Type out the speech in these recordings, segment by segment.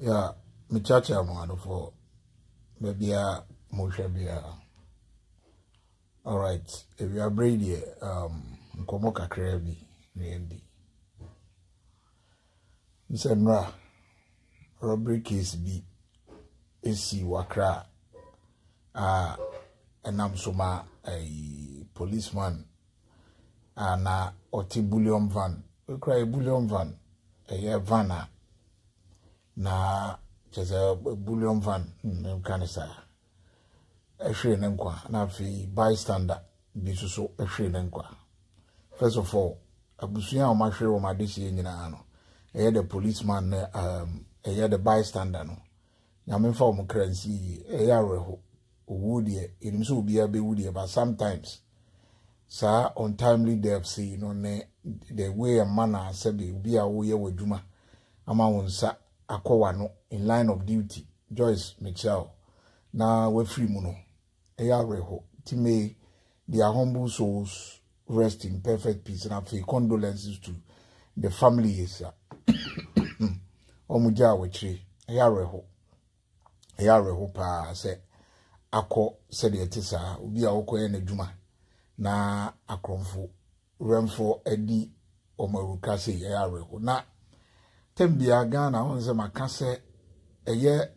Yeah, me cha cha mo adofo. Maybe a mo hwɛ biara. All right, if you are brave, um, nkomo kakra bi na yɛn di. N sɛ nnora robbery case bi si wɔ Accra a ɛnam so ma ɛyi policeman a na ɔte bullion van ekura yɛ bullion van ɛyɛ van a na kyerɛ sɛ bullion van nka ne saa ɛhwere ne nkwa na afei bystander bi nso so ɛhwere ne nkwa first of all abusua a wɔn ahwere wɔn adehyeɛ nyinaa no ɛyɛ the policeman ne um, ɛyɛ the bystander no nyame nfa wɔn kra nsi yie ɛyɛ awerɛho owuo deɛ yɛnim sɛ obiara bɛwu deɛ but sometimes saa untimely death sei no ne the way a manner sɛbi obi a woyɛ w'adwuma ama wo nsa akɔ w'ano in line of duty Joyce mekyia wo na wafiri mu no ɛyɛ awerɛho nti may their humble souls rest in perfect peace na afei condolences to the families a wɔn gyaa wɔ akyire ɛyɛ awerɛho ɛyɛ awerɛho paa sɛ akɔ sɛdeɛ ɛte saa obi a wɔkɔyɛ n'adwuma na akorɔmfo Wɛmfo Adi wɔn awuka sɛ yɛyɛ awerɛho na tɛm biara Ghana ho nsɛm aka sɛ ɛyɛ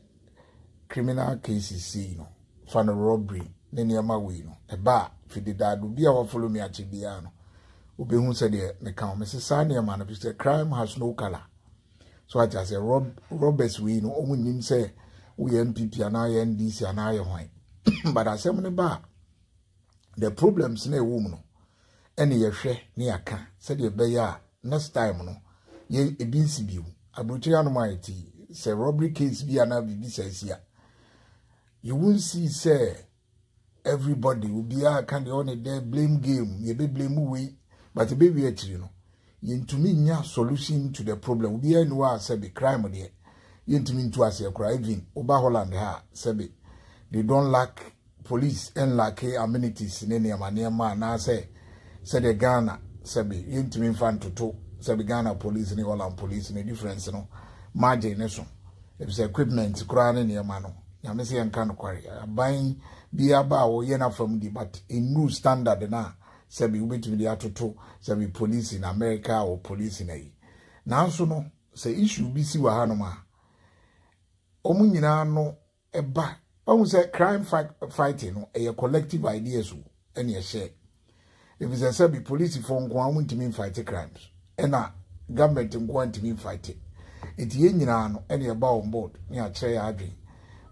criminal cases sei no fa no robbery ne nneɛma wei no ɛba a fidedad obi a wafolo me akyi biara no obehu sɛ deɛ meka ho mese saa nneɛma no fi sɛ crime has no color so ate asɛ rob robbers wei no wɔn nim sɛ woyɛ npp anaa yɛ ndc anaa yɛ hwan but asɛm no ba a the problems na ɛwɔ mu no ɛne yɛhwɛ ne yɛaka sɛdeɛ ɛbɛyɛ a next time no yɛ ebi nsi bio aburokyire anom a yɛte sɛ robbery case bi anaa biribi sɛ asi a you won't see sɛ everybody obiara ka deɛ ɔne dɛ blame game yɛbɛ blame wei but ɛbɛwie akyiri no yɛntumi nya solution to the problem obiara ni hɔ a sɛbe crime deɛ yɛntumi ntu aseɛ koraa even woba holland ha a sɛbe they don't lack Police nlacke amenities ne nneɛma nneɛma anaasɛ sɛdeɛ Ghana sɛbe yɛntumi mfa ntoto sɛbe Ghana Police ne Holland Police ne difference no margin ne so efisɛ equipment koraa ne nneɛma no nyame sɛ yɛnka nokware aban bi aba a wɔyɛ n'afam di but ennuru standard no a sɛbe wobɛtumi de atoto sɛbe police na America wɔ police na yi nanso no sɛ issue bi si wɔ hanom a wɔn nyinaa no ɛba wahu sɛ crime fighting no ɛyɛ collective ideas o ɛne ɛhyɛ efisɛ sɛbi polisifoɔ nko a wɔntumi nfight crimes ɛna government nko a ntumi nfight eti yɛn nyinaa no ɛne ɛba on board ne akyerɛ yɛ adwene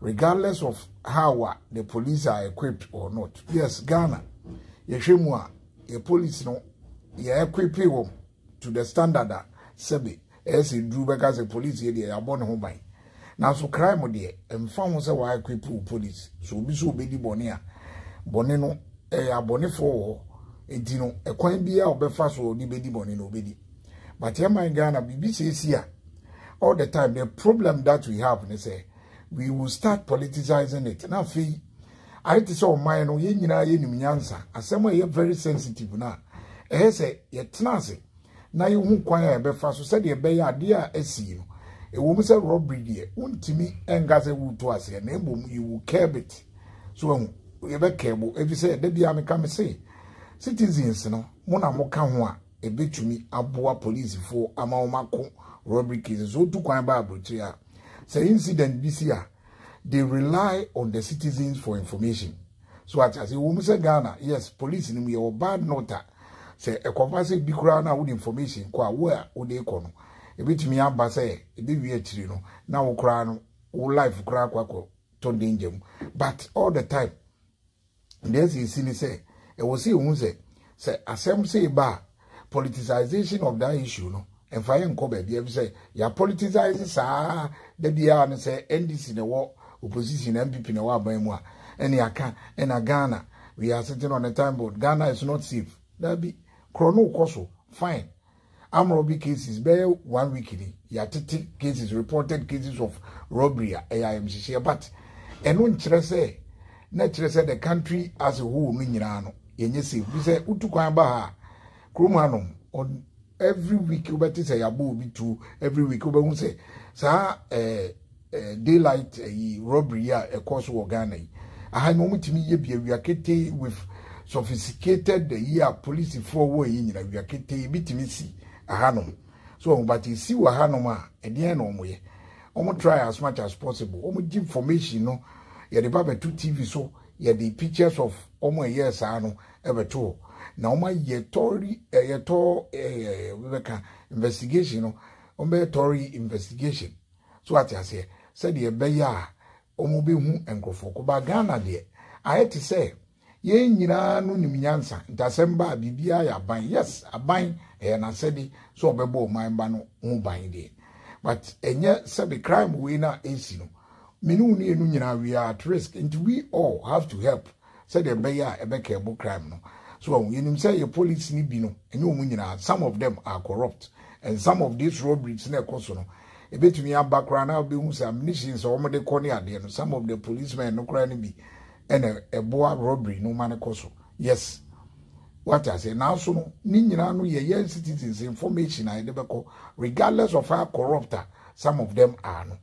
regardless of how a the police are equipped or not yes Ghana yɛhwɛ mu a yɛ police no yɛ equipe wɔn to the standard a sɛbi Ɛyɛ sɛ duru bɛka sɛ police yɛ deɛ yɛabɔ ne ho ban. Nanso crime deɛ, ɛmfa ho sɛ wɔaequipe wo police, sɛ obi sɛ ɔbɛdi bɔne a, bɔne no, ɛyɛ abɔnefoɔ wɔ hɔ. Enti no, ɛkwan biara a ɔbɛfa so a ɔde bɛdi bɔne no, ɔbɛdi. But yɛn man Ghana, biribi sɛ si a, all the time, the problem that we have ne sɛ, we will start politicizing it. Na afei, ayɛ te sɛ ɔman no, yɛn nyinaa yɛnim nyansa. Asɛm a ɛyɛ very sensitive no a, ɛyɛ sɛ yɛtena ase na yɛhu kwan a yɛbɛfa so sɛdeɛ ɛbɛyɛ adeɛ a asi no ɛwɔ mu sɛ robbery deɛ wontumi nka sɛ woretu aseɛ na mmom you will curb it so ahu yɛbɛkɛbo ɛfi sɛ da biara meka me se citizens no mo na moka ho a ɛbɛtumi aboa policefoɔ ama wɔn ako robbery cases so wotu kwan ba aburokyire a sɛ incident bi si a they rely on the citizens for information so ate ase wɔn sɛ ghana yes police ni mu yɛ wɔ bad note a sɛ ɛkɔfa sɛ bi koraa na wɔde information kɔ a wo a wɔde kɔ no ebetumi aba sɛ ebewie akyiri no na wo koraa no wo life koraa akɔ akɔ to danger mu but all the time Nea asi nsi ne sɛ, ɛwɔ sɛ yɛhu sɛ, sɛ asɛm sei ba a, politicization of that issue no, ɛmfa yɛn nkɔ baabi efisɛ yɛapoliticize saa da biara no sɛ NDC na ɛwɔ opposition na NPP na ɛwɔ aban mu a, ɛne aka ɛna Ghana, we are sitting on a time boat, Ghana is not safe. Daabi, korɔ no rekɔ so, fine. arm robbery cases bɛyɛ one week ni yɛatete cases reported cases of robbery a ɛyɛ ayamhyehyeɛ but ɛno nkyerɛ sɛ na kyerɛ sɛ the country as a whole no nyinaa no yɛnyɛ safe bi sɛ wotu kwan ba ha kurom hanom every week wobɛte sɛ yɛabɔ obi tuo every week wobɛhu sɛ saa ɛɛ eh, Daylight ɛyi robbery yi a ɛkɔɔ so wɔ Ghana yi, aha yi na wɔn tumi yɛ bi awia ketee with sophisticated ɛyi a polisifoɔ wɔ ɛyi nyina awia ketee ebi tumi si aha nom so wɔn but esi wɔ aha nom a ɛdeɛn na wɔn yɛ wɔn try as much as possible wɔn gye information no yɛde ba bɛto TV so yɛde pictures of wɔn ɛyɛ saa no ɛbɛto hɔ na wɔn ayɛ tɔri ɛyɛ tɔ ɛɛ bɛka investigation no wɔn bɛyɛ tɔri investigation. So wate aseɛ? Sɛdeɛ ɛbɛyɛ a wɔbɛhu nkurɔfoɔ ko ba Ghana deɛ ayɛ te sɛ yɛn nyinaa no nim nyansa nti asɛm ba a biribiara yɛ aban yes aban ɛyɛ n'asɛde sɛ ɔbɛbɔ ɔman ba no ho ban deɛ but ɛnyɛ sɛbe crime wei no a ɛsi no mene wo ne ɛnu nyinaa we are at risk nti we all have to help sɛdeɛ ɛbɛyɛ a ɛbɛ curb crime no. So wahu? Yɛnim sɛ yɛ police no bi no, ɛnyɛ wɔn nyinaa, some of them are corrupt and some of these robberies na ɛkɔ so no, ɛbɛtumi aba koraa na wobɛhu sɛ ammunitions a wɔde kɔ ne adeɛ no, some of the policemen no koraa no bi ɛna ɛboa robbery no ma no kɔ so. Yes. What I say, now so no, ne nyinaa no yɛ yɛn citizens information a yɛde bɛkɔ regardless of how corrupt some of them are no.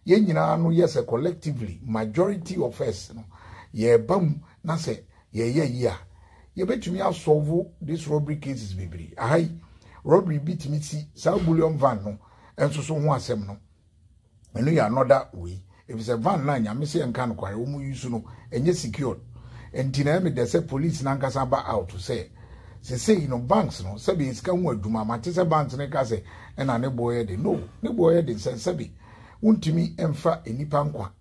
yɛn nyinaa no yɛ sɛ collectively, majority of us no, yɛba mu na sɛ yɛyɛ yi a, yɛbɛtumi asɔlvo this robbery cases bebree. Aha yi, robbery bi tumi si saa bullion van no nso so ho asɛm no, ɛno yɛ another wei. Efisɛ van no a nyame sɛ yɛnka nokware, wɔn yi so no, ɛnyɛ secured. Nti na ɛmedɛ sɛ police nankasa ba out sɛ, Sesei no banks no sɛbe yɛ sika ho adwuma ma te sɛ banks no ka sɛ ɛna ne boɔ yɛ den. No, ne boɔ yɛ den sɛ sɛbe wontumi mfa nnipa nkwa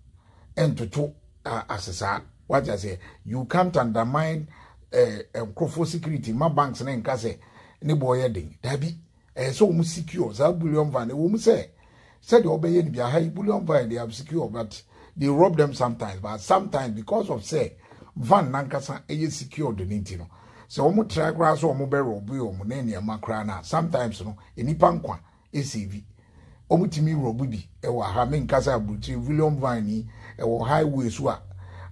ntoto ase saa. Wate aseɛ? You can't undermine eh, nkurɔfoɔ security ma banks no nka sɛ ne boɔ yɛ den. Dabi. Ɛyɛ sɛ wɔn secure saa bullion vine ɛwɔ mu sɛ sɛdeɛ wɔbɛyɛ no bia ha yi bullion vine they have secure but they rob them sometimes but sometimes because of sɛ van nankasa ɛyɛ secure de ne nti no sɛ wɔn try koraa sɛ wɔn bɛ rob yɛ wɔn ne nneɛma koraa na sometimes no nipa nkwa ɛsɛvi wɔn tumi rob bi ɛwɔ ha menkasa aburukyire bullion vine yi ɛwɔ highway so a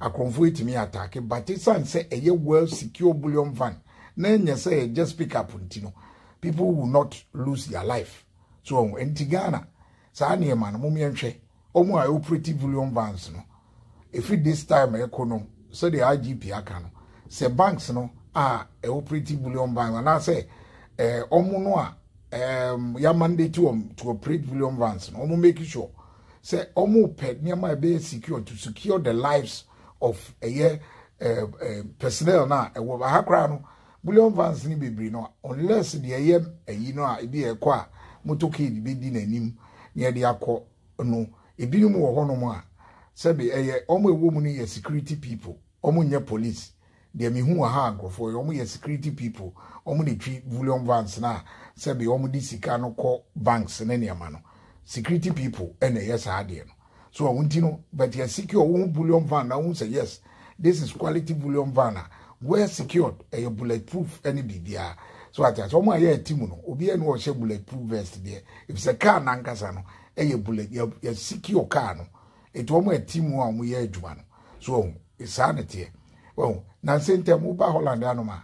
akorɔmfo ɛtumi ataake but ɛsan sɛ ɛyɛ well secure bullion vine na ɛnyɛ sɛ ɛyɛ just pick up nti no people will not lose their life so ɔho nti ghana saa nneɛma no mom yɛnhwɛ ɔmo a ɛoperate bullion vans no ɛfiri this time ɛkɔ no sɛdeɛ igp aka no sɛ banks no a ɛoperate bullion vans anaasɛ ɛɛ ɔmo no a ɛɛm yɛ mandate wɔn to operate bullion vans no ɔmo make sure sɛ ɔmo pɛ nneɛma ɛbɛyɛ secure to secure the lives of ɛyɛ ɛɛ personnel na ɛwɔ ha koraa no. Bullion vans no bebree no unless deɛ ɛyɛ ayi no a ebi a ɛkɔ a motorcade bɛdi n'anim na ɛde akɔ no ebinom wɔ hɔnom a sɛbe ɛyɛ wɔn a ɛwɔ mu no yɛ security people wɔn nyɛ police deɛ mehu wɔ ha a nkurɔfoɔ yɛ wɔn yɛ security people wɔn na ɛtwi bullion vans no a sɛbe wɔn de sika no kɔ banks ne nneɛma no security people ɛna ɛyɛ saa adeɛ no. so ɔho nti no but yɛ secure wo ho bullion van na wohu sɛ yes this is quality bullion van a well secured ɛyɛ bullet proof ɛne biribiara so ate ase wɔn a yɛ ɛti mu no obiara ni wɔhyɛ bullet proof vest deɛ efisɛ car nankasa no ɛyɛ bullet yɛ yɛ secure car no eti wɔn a ɛti mu a wɔn yɛ adwuma no so ɔho saa na teɛ ɔho na nsɛntɛm wo ba holland anoma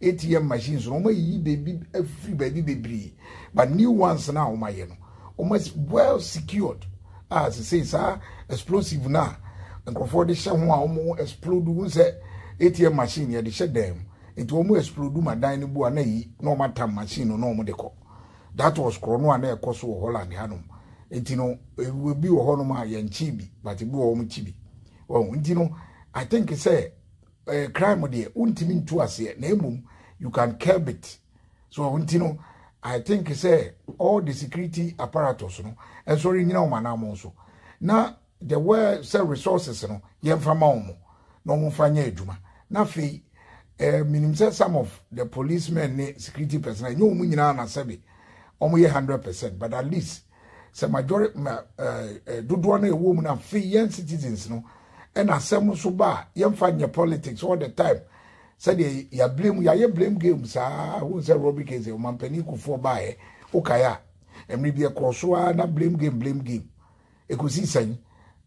ATM machines no wɔayiyi baabi afiri baabi bebree but new ones no a wɔayɛ no wɔn well secured a sesei saa explosive no a nkurɔfoɔ de hyɛ ho a wɔn explode ho sɛ ATM machine yɛde hyɛ dan mu nti wɔn explode ma dan no bu a na yi na wɔn atam machine no na wɔn de kɔ that was korɔno a na ɛkɔ so wɔ Holland hanom nti no ebi wɔ hɔnom a yɛn kyi bi but ebi wɔ wɔn kyi bi wɔn nti no I think sɛ. eh, crime deɛ wontumi ntu aseɛ na mmom you can curb it so ɛho nti no i think sɛ all the security apparatus no nso renyina wɔn anamɔ so na the way sɛ resources no yɛmfa ma wɔn na wɔmfa nyɛ adwuma na afei eh, menim sɛ some of the policemen ne security personnel ɛnyɛ wɔn nyinaa na sɛbe wɔn yɛ hundred percent but at least sɛ majori ma ɛɛ dodoɔ na ɛwɔ mu na afei yɛn citizens no ɛna asɛm nso ba a yɛmfa nyɛ politics all the time sɛdeɛ yɛ blame yɛayɛ blame game saa ho sɛ robi kese ɔmampanin kufoɔ baeɛ wokae a mmere bi ɛkɔɔ so ara na blame game blame game ɛkɔsi sɛn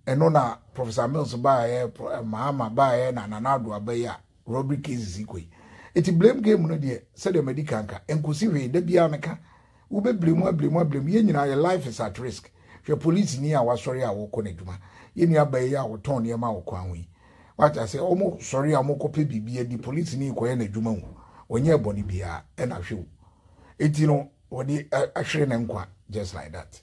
ɛno na professor mills baeɛ maama baeɛ na nana ado abɛyɛ a Rodrick case si kɔ yi. Eti blame game no deɛ sɛdeɛ madi kan ka, ɛnkosi hwee, da biara no ka. Wobɛ blame a blame a blame, yɛn nyinaa yɛ life is at risk. Hwɛ polisini a wasɔre a ɔrekɔ n'adwuma, yɛn nua baa yi a ɔtɔn nneɛma wɔ kwan ho yi. Wate aseɛ, wɔn sɔre a wɔn kɔpɛ biribi adi, polisini rekɔyɛ n'adwuma o, ɔnyɛɛ bɔne biara, ɛna hwɛ o. Eti no, wɔde ahwere ne nkwa just like that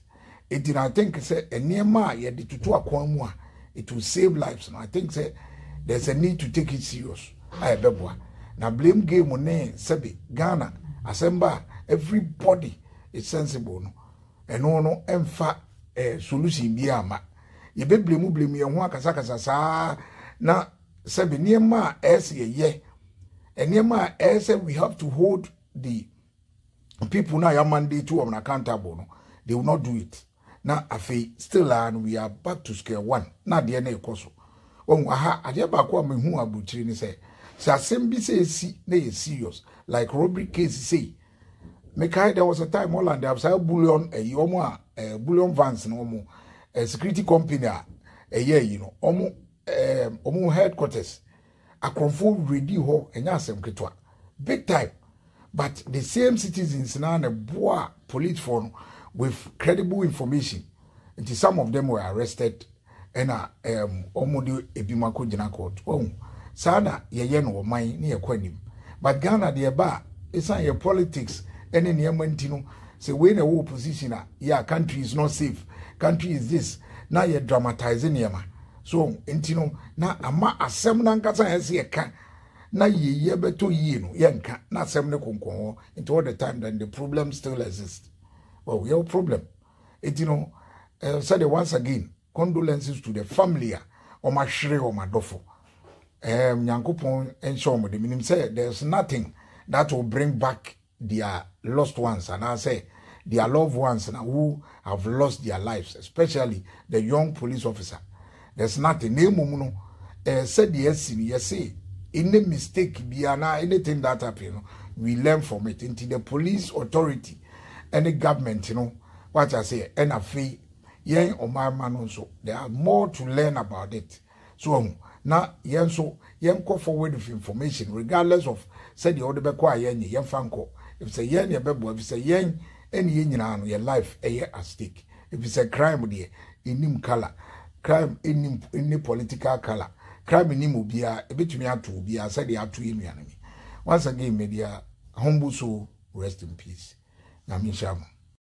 eti na i think sɛ nneɛma a yɛde tutu akwan mu a it will save lives no i think sɛ there is a need to take it serious a ɛbɛboa na blame game ne sɛbi ghana asɛmba a everybody is sensible no ɛno no ɛmfa ɛɛ eh, solution bi ama yɛbɛbile mu bile mu yɛn ho akasakasa saa na sɛbi nneɛma a ɛsɛ yɛyɛ nneɛma a ɛsɛ we have to hold the people na ya mandate wɔn accountable no they will not do it na afei still ah we are back to square one na adeɛ na ɛkɔ so wɔn aha adeɛ baako a mehu aburukyiri ne sɛ sɛ asɛm bi sɛ esi na yɛ serious like robbery case sei mekae there was a time holland abisa bullion ɛyi wɔn a bullion vans na wɔn security company a ɛyɛ ɛyi no wɔn. ɛɛm wɔn headquarters akorɔmfo redi hɔ ɛnyɛ asɛm ketewa big time but the same citizens na na boa police for no with credible information nti some of them were arrested ɛna ɛɛm wɔn de ebi mu akɔ gyina court wɔn saa na yɛyɛ no ɔman ne yɛkɔ anim but ghana deɛ ɛba a esan yɛ politics ɛne nneɛma nti no sɛ wei na ɛwɔ opposition a yeah country is not safe country is this na yɛ dramatize nneɛma. So nti no, na ama asɛm no ankasa a ɛsɛ yɛka na yɛyɛ bɛtɔ yie no yɛnka na asɛm no konkɔn hɔ nti all the time then the problem still exist well yɛwɔ problem nti no uh, said once again condolences to the family a wɔn ahwere wɔn adɔfo um, nyankopɔn nhyɛ wɔn de menim sɛ there's nothing that will bring back their lost ones anaasɛ their loved ones na who have lost their lives especially the young police officer there's nothing na mmom no eh, sɛdeɛ asi no yɛse any mistake biara na anything that happen no we learn from it nti the police authority ɛne government no wate aseɛ ɛna afei yɛn ɔman ma no nso there are more to learn about it So wahu? Na yɛn nso, yɛnkɔ forward with information, regardless of sɛdeɛ wode bɛkɔ a yɛnnye, yɛmfa nkɔ. Efisɛ yɛn na yɛbɛboa, efisɛ yɛn ne yɛn nyinaa no, yɛn life yɛ at stake. Efisɛ crime deɛ, ɛnnim colour, crime nnim ne political colour, crime nnim obiara, ɛbɛtumi ato obiara sɛdeɛ ato yɛn nuanom yi. Once again, media humble soul, rest in peace. Nyame nhyira mo.